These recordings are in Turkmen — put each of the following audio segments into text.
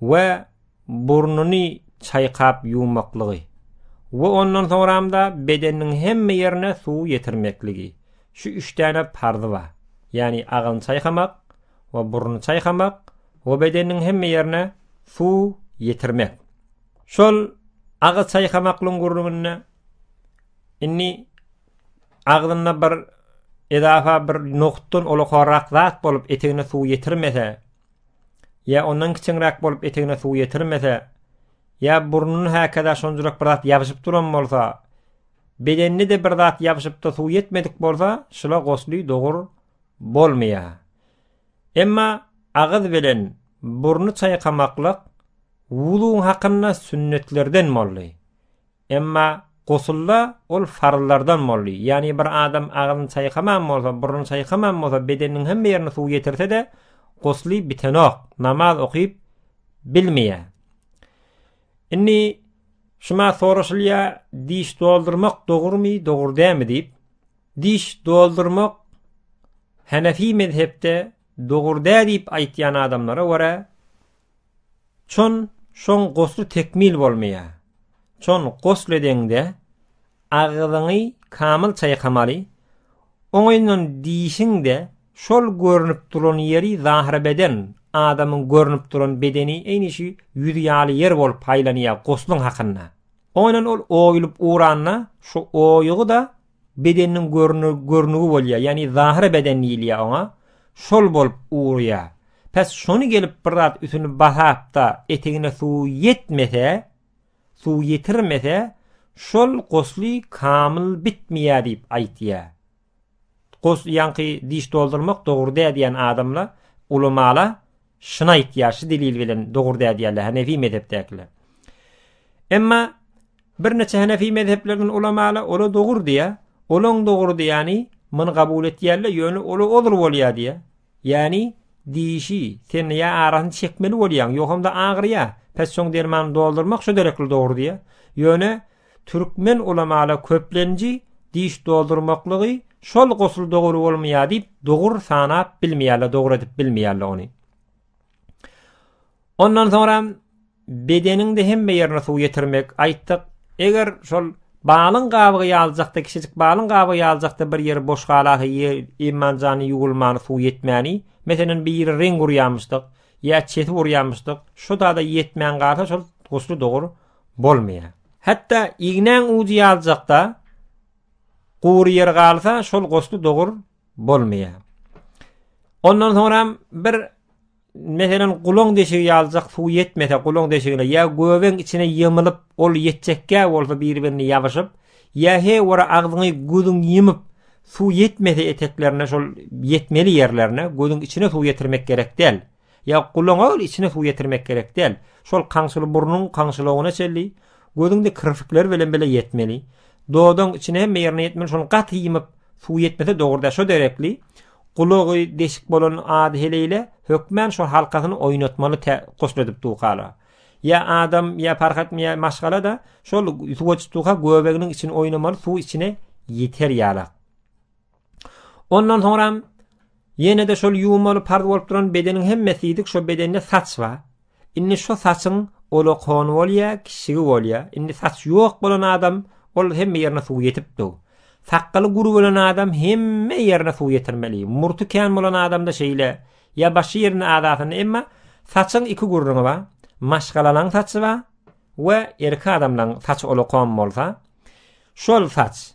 we burnuny çaýkap ýuwmaklygy we ondan soňramda bedeniniň hemme ýerine suw ýetirmekligi. Şu üç däne parzy bar. Ýagny agyny çaýkamak we burnuny çaýkamak we bedeniniň hemme ýerine suw ýetirmek. Şol agy çaýkamaklygyň gürrüňinde indi agzynda bir edafa bir nohutdan olakorak zat bolup etegine suw ýetirmese, ýa ondan kiçiňräk bolup etegine suw ýetirmese, ýa burnuny häkaza şonjurak bir zat ýabyşyp duran bolsa, bedenine de bir zat ýabyşypda suw ýetmedik bolsa, şula gosly dogur bolmaýa. Emma agyz bilen burny çaýkamaklyk wuzuň hakynda sünnetlerden boldy. Emma gusulda ol farzlardan boldy. Ýagny bir adam agzyny çaýkaman bolsa, burnuny çaýkaman bolsa, bedeniniň hemme ýerine suw ýetirse-de, gusly bitenok, namaz okyp bilmeýär. Indi şuma soraşylýar, diş doldurmak dogrumy, dogry dämi diýip. Diş doldurmak Hanefi mezhepde dogry dä diýip aýtýan adamlara görä, Çon şoň gosly tekmil bolmaýar. Çon gosl edeňde agzyňy kamyl çaýkamaly, oňyndan dişiň-de şol görnüp duran ýeri zahyrabeden, adamyň görnüp duran bedeni eýni şu ýüz ýaly ýer bolup haýlanýar gosluň hakynda. Oňyndan ol oýulyp uranda şu oýugy-da bedeniniň görnügi bolýar, ýagny zahyry beden diýilýär oňa, şol bolup urýar. Pes şony gelip bir zat üsüni basapda etegine suw ýetmese, suw ýetirmese, şol gusly kamyl bitmeýär diýip aýtýar. Gus ýaňky diş doldurmak dogry däl diýen adamla, ulamala Şuny aýtýar, şu delil bilen dogry dädýärler Hanefi mezhepdäkiler. Emma birneçe Hanefi mezheplerden ulamalar ola dogry diýä, olaň dogry diýýäni muny kabul etýärler, ýöne ola ozur bolýar diýä. Ýani diýişi, sen ýa arasyny çekmeli bolýaň, ýogamda agyrýa, pes soň dermany doldurmak şu derekli dogry diýä. Ýöne Türkmen ulamala köplenji diş doldurmaklygy şol gosul dogry bolmaýa diýip dogur sanap bilmeýärler dogry edip bilmeýärler ony. Ondan soňra bedeniňde hemme ýerine suw ýetirmek aýtdyk. Eger şol balyň gabygy ýaljakda kişijik balyň gabygy ýaljakda bir ýeri boş galasa ýer imanjany ýuwulmany suw ýetmäni. Meselen bir ýeri reň urýamyşdyk ýa çeti urýamyşdyk. Şu dada ýetmän galsa şol gusly dogur bolmaýar. Hatda ignäň ujy ýaljakda gury ýer galsa, şol goşgy dogur bolmaýar. Ondan soňram bir meselen gulaň deşigi ýaljak suw ýetmese gulaň deşigine ýa göbeň içine ýemilip ol ýetjekkä bolsa bir-birini ýabyşyp ýa he wara agzyňy gözüň ýemip suw ýetmese eteklerine şol ýetmeli ýerlerine gözüň içine suw ýetirmek gerek däl. Ýa gulaňa ol içine suw ýetirmek gerek däl. Şol kaňşyly burnuň kaňşylogyna çenli, gözüňde kirpikler bilen bile ýetmeli. Dodagyň içine hemme ýerine ýetmeli, şony gaty ýymyp, suw ýetmese dogry-da şo derekli, gulagy deşik bolan ady heleýle, hökmän şol halkasyny oýnatmaly tä goşladyp dukaga. Ýa adam, ýa parh etme, ýa maşgala-da şol suwa çytuka göbeginiň içini oýnamaly, suw içine ýeter ýalak. Ondan soňram ýene-de şol ýuwmaly parz bolup duran bedeniň hemmesi ýedik, şo bedende saç bar. Indi şo saçyň olakony bolýa, kişigi bolýa. Indi saç ýok bolan adam, ol hemme ýerine suw ýetipdi. Sakgaly gury bolan adam hemme ýerine suw ýetirmeli. Murty kän bolan adamda şeýle, ýa başy ýerinde adasynda, emma saçyň iki gurruňy bar. Maşgalalaň saçy bar we erki adamlaň saç olakon bolsa, şol saç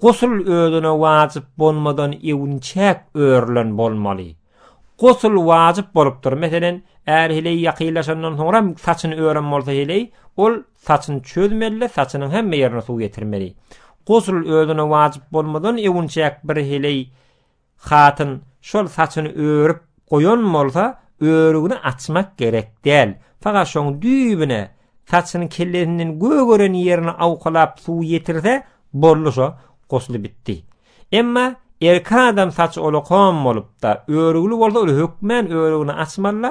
Gusl özüne wajyp bolmadan ewünçäk örülen bolmaly. Gusl wajyp bolupdyr. Meselen, är heleý ýakynlaşandan soňra hem saçyny ören bolsa heleý, ol saçyny çözmeli-de, saçynyň hemme ýerine suw ýetirmeli. Gusl özüne wajyp bolmadan ewünçäk bir heleý Hatyn şol saçyny örüp goýan bolsa, örügini açmak gerek däl. Faga şoň düýbüne, saçyny kellesinden gögeren ýerine awkalap suw ýetirse, boldy şo, gusly bitdi. Emma erki adam saçy olakom bolupda, örügli bolsa ol hökmän örügini açmaly-da,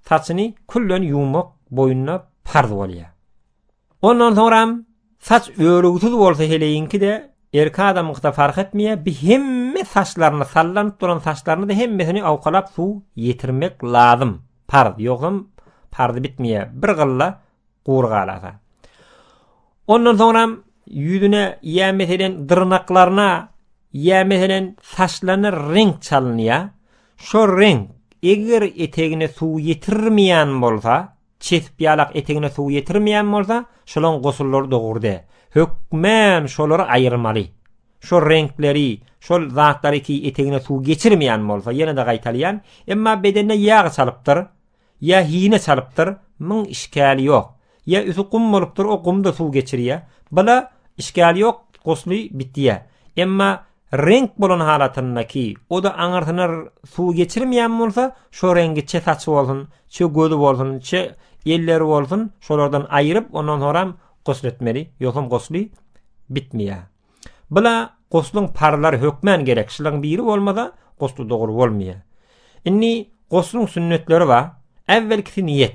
saçyny külden ýuwmak boýnuna parz bolýar. Ondan soňram saç örügsiz bolsa heleýiňki-de, erki adamyňky-da fark etmeýär, bi hemme saçlaryny, sallanyp duran saçlaryny-da hemmesini awkalap suw ýetirmek lazym, parz, ýogsam parz bitmeýär, bir gylla gury galasa. Ondan soňram ýüzüne ýa meselen dyrnaklaryna ýa meselen saçlaryna reňk çalynýar. Şo reňk eger etegine suw ýetirmeýän bolsa, Çesip ýalak etegine suw ýetirmeýän bolsa, şolaň gosullary dogurdy. Hökmän şolary aýyrmaly. Şol reňkleri, şol zatlary ki etegine suw geçirmeýän bolsa, ýene-de gaýtalýan, emma bedenine ýag çalypdyr, ýa hine çalypdyr, myň işgäli ýok. Ýa üsti gum bolupdyr, o gum-da suw geçirýä. Bula işgäli ýok, gusly bitýä. Emma reňk bolan halatyndaky, o-da aňyrsyna suw geçirmeýän bolsa, şo reňgi çe saçy bolsun, çe gözi bolsun, çe elleri bolsun, şolardan aýryp, ondan soňram gusl etmeli, ýogsam gusly bitmeýär. Bu-la guslyň parzlary hökmän gerek, şularyň biri bolmasa, gusl dogry bolmaýar. Indi guslyň sünnetleri bar. Äwwelkisi niýet.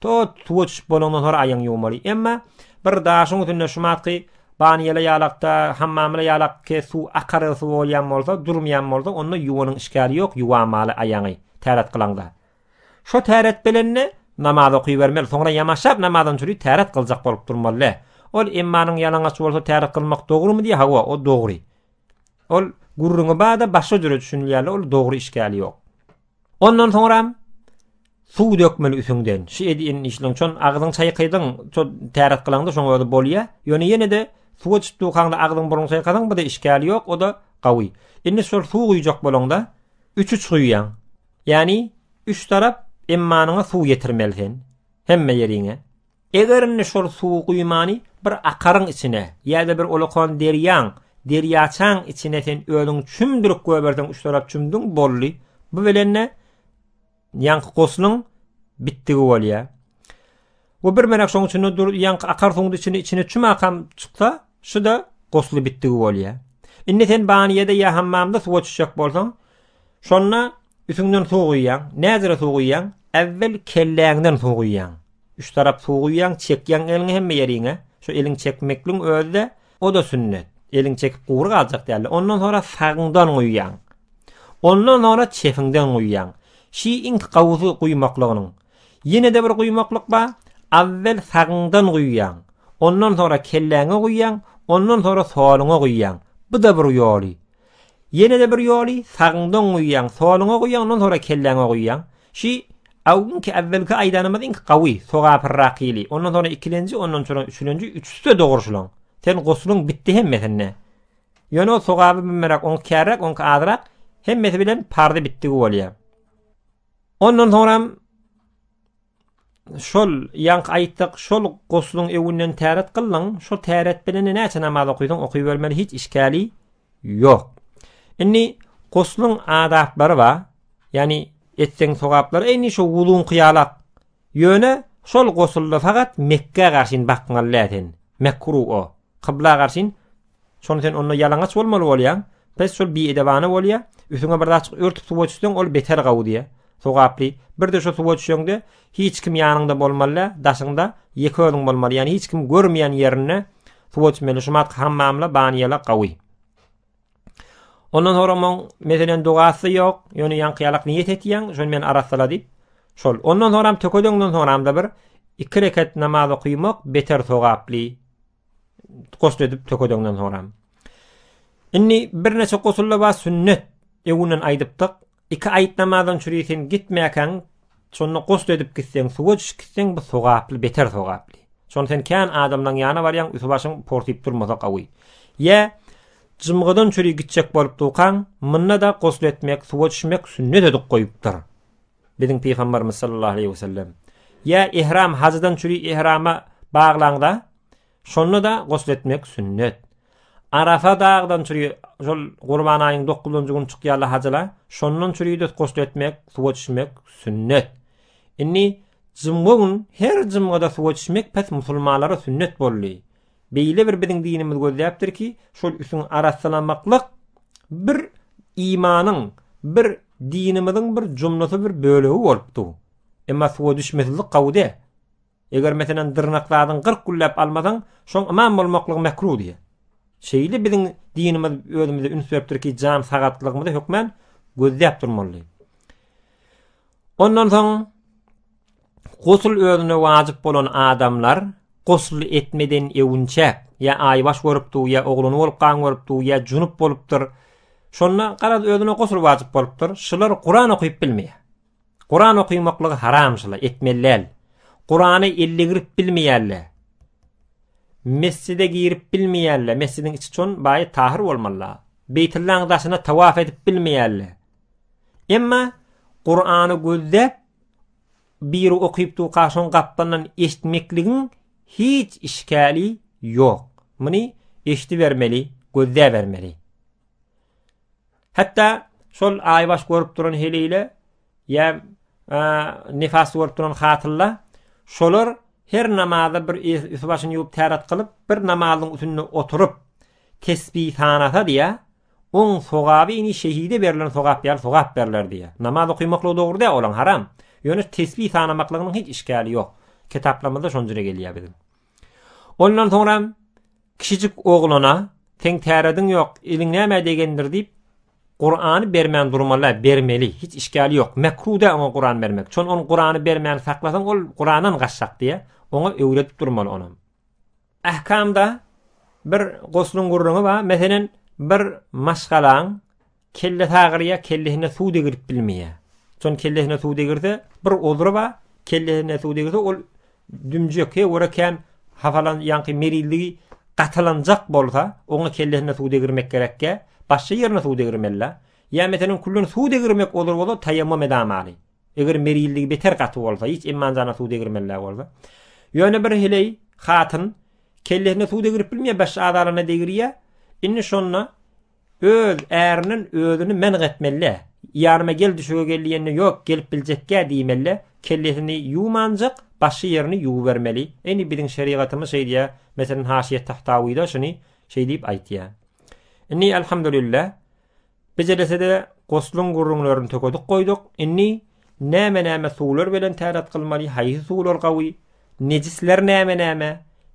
Tut, suwa düşüp bolandan sonra aýagyňy ýuwmaly. Emma bir daşyň üstünde şumatky banýele ýalakda, hammamla ýalakky suw akarýan suw bolýan bolsa, durmaýan bolsa, onda ýuwanyň işgäri ýok, ýuwamaly aýagyňy, täret kylanda. Şo täret bilende namaz okybermeli, soňra ýamaşap namazdan çüri täret kyljak bolup durmaly. Ol emmanyň ýalaňaç bolsa täret kylmak dogrumy diýýär, hawa, o dogry. Ol gürrüňi bar-da, başga jüre düşünilýär-le, ol dogry işgäli ýok. Ondan soňram suw dökmeli üsüňden. Şu edin işleň çon agzyň çaýkaýdyň, ço täret gylaňda şoň özi bolýa. Ýöne ýene-de suwa çyp dukaňda agzyň burnuň çaýkasaň bu-da işgäli ýok, o-da gawy. Indi şol suw guýjak bolaňda üç uç guýýaň. Ýani üç tarap emmanyňa suw ýetirmeli sen. Hemme ýeriňe. Eger indi şol suwy guýmany bir akaryň içine ýa-da bir ulakan derýaň, derýaçaň içine sen özüň çümdürip goýberseň üç tarap çümdüň, boldy. Bu bilen-de ýaňky guslyň bitdigi bolýar. Bu bir menek şoň içinde dur, ýaňky akar suwuň içine içine çüm akam çyksa, şu-da gusly bitdigi bolýar. Indi sen baniýede ýa hammamda suwa çyşjak bolsaň, şonda Üstüňden suw guýýaň. Näzire suw guýýaň? Äwwel kelläňden suw guýýaň. Üç tarap suw guýýaň, çekýäň eliňi hemme ýeriňe. Şu eliň çekmekligiň özi-de, o-da sünnet. Eliň çekip gury galjak däldi. Ondan soňra sagyňdan guýýaň. Ondan soňra çepiňden guýýaň. Şi iň gowusy guýmaklygynyň. Ýene-de bir guýmaklyk bar. Awwel sagyňdan guýýaň. Ondan soňra kelläňe guýýaň, ondan soňra soluňa guýýaň. Bu-da bir ýoly. Ýene-de bir ýoly, sagyňda oň guýýaň, soluňa guýýaň, ondan sonra kelläňe guýýaň. Şi awginki awwelki aýdanymyz iň gawy, sogapyrrak ýyly. Ondan sonra ikilenji, ondan sonra üçülenji, üçüsi-de dogry şulaň. Sen guslyň bitdi hemmesinde. Ýöne ol sogaby mümmeräk, oňki kärräk, oňki azrak, hemmesi bilen pardy bitdigi bolýar. Ondan soňram Şol, ýaňky aýtdyk, şol guslyň öwünden täret kyldyň, şo täret bilen-de näçe namaz okydyň, okybermeli, hiç işgäli ýok. Indi guslyň adaplary bar, ýagny etseň sogaplary eýni şo wuzuňky ýalak. Ýöne şol guslda fakat Mekgä garşyn bakmaly däl sen. Mekruh o. Kybla garşyn Şony sen onda ýalaňaç bolmaly bolýaň. Pes şol biedebana bolýa. Üstüňe bir zat örtüp suwa düşseň ol beter gawy diýe. Sogaply. Bir de şu suwa düşeňde hiç kim ýanyňda bolmaly, daşyňda ýeke özüň bolmaly. Ýani hiç kim görmeýän ýerinde suwa düşmeli. Şu mat hammamla baniýala gawy. Ondan sonra mon meselen dogasy ýok. Ýöne ýaňky ýalak niýet etýäň, şony men arasala diýip. Şol. Ondan sonra töködeňden sonra bir iki rekat namaz okuymak beter sogaply. Gusl edip tökedeňden soňra. Indi birnäçe gusulla bar sünnet. Öwünden aýdypdyk. Iki aýt namazyň çüri sen gitmäkäň, şonda gusl edip gitseň, suwa düşüp gitseň, bu sogaply, beter sogaply. Şonda sen kän adamlaryň ýanyna barýaň, üsti başyň portyp durmasa gawy. Ýa jymgydan çüri gitjek bolup durkaň, munda-da gusl etmek, suwa düşmek sünnet edip goýupdyr. Biziň Pygambarymyz sallallahu aleýhi we sellem, Ýa ihram hajydan çüri ihrama baglaňda, şonda-da gusl etmek sünnet. Arafa dagdan çüri şol Gurban aýynyň dokuzynjy güni çykýarlar hajylar, şondan çüri-de gusl etmek, suwa düşmek sünnet. Indi jymgy gün her jymgyda suwa düşmek pes musulmanlara sünnet boldy. Beýle bir biziň dinimiz gözläpdir ki, şol üsüň arassalamaklyk bir imanyň, bir dinimiziň bir jumlasy bir bölegi bolup dur. Emma suwa düşmesizlik gawude. Eger meselen dyrnak zadyň 40 günläp almasaň, şoň imam bolmaklygy mekruh diýe. Şeýle biziň dinimiz özümize üns beripdir ki, jan sagatlygymy hökmän gözläp durmaly. Ondan soň Gusl özüne wajyp bolan adamlar gusl etmeden öwünçä ýa aýbaş görüpdi ýa oglany bolup gan görüpdi ýa junup bolupdyr. Şonda garaz özüne gusl wajyp bolupdyr. Şular Kuran okyp bilmeýär. Kuran okymaklygy haram şula etmeli däl. Kurany elle girip bilmeýärler. Mesjide girip bilmeýärler. Mesjidiň içi çon baýy tahyr bolmaly. Beýtullaň daşyna tawaf edip bilmeýärler. Emma Kurany gözde biri okyp durka şoň gapdalyndan eşitmekligiň hiç işgäli ýok. Muny eşidibermeli, gözläbermeli. Hatda şol aýbaş görüp duran heleýle ýa nifas görüp duran hatylla şolar her namaza bir üst başyny ýuwup täret kylyp bir namazyň üstünde oturyp tesbih sanasa diýä Oň sogaby ini şehide berlen sogap ýaly sogap berler diýýär. Namaz okymaklygy dogry däl, olaň haram. Ýöne tesbi sanamaklygynyň hiç işgäli ýok. Kitaplarymyzda şon jüre gelýär biziň. Ondan soňra kişijik oglana seň tärediň ýok, eliň nämä degendir diýip, Kurany bermän durmaly, bermeli, hiç işgäli ýok. Mekruh däl oňa Kuran bermek. Şon on Kurany bermän saklasaň, ol Kurandan gaçjak diýýär. Oňa öwredip durmaly onam. Ähkamda bir gusluň gürrüňi bar, meselem, bir maşgalaň kellesi agyrýar, kellesine suw degirip bilmeýär. Şonuň kellesine suw degirse, bir uzry bar, kellesine suw degirse, ol dümjek, he, ora kän hapalan, ýaňky merizligi gatylanjak bolsa, oňa kellesine suw degirmek gerekkä, başga ýerine suw degirmeli-dä. Ýa meselem, külden suw degirmek uzry bolsa, taýammum edamaly. Eger merilligi beter gaty bolsa, hiç emmanjana suw degirmänläg bolsa. Ýöne bir heleý hatyn kellesine suw degirip bilmeýär, baş adalaryna degirýär. Indi şonda öz ärinden özüni menk etmeli. Ýanyma gel düşege gel diýende, ýok, gelip biljekkä diýmeli. Kellesini ýuwmanjak, başy ýerini ýuwubermeli. Indi biziň şerigatymyz şeý diýýär. Meselem, Haşyýet Tahtawyda şuny şeý diýip aýtýar. Indi elhamdülillah Bejelese-de, gosluň gürrüňlerini tökedik goýduk. Indi näme-näme suwlar bilen täret kylmaly, haýsy suwlar gawy, nejisler näme-näme,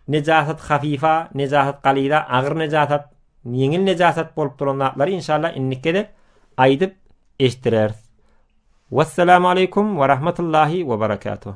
nejasat hafifa, nejasat galyza, agyr nejasat, ýeňil nejasat bolup duran zatlary inşallah indiki gezek aýdyp eşitdireris. Wessalamu aleýkum we rahmetullahi we berekatuh.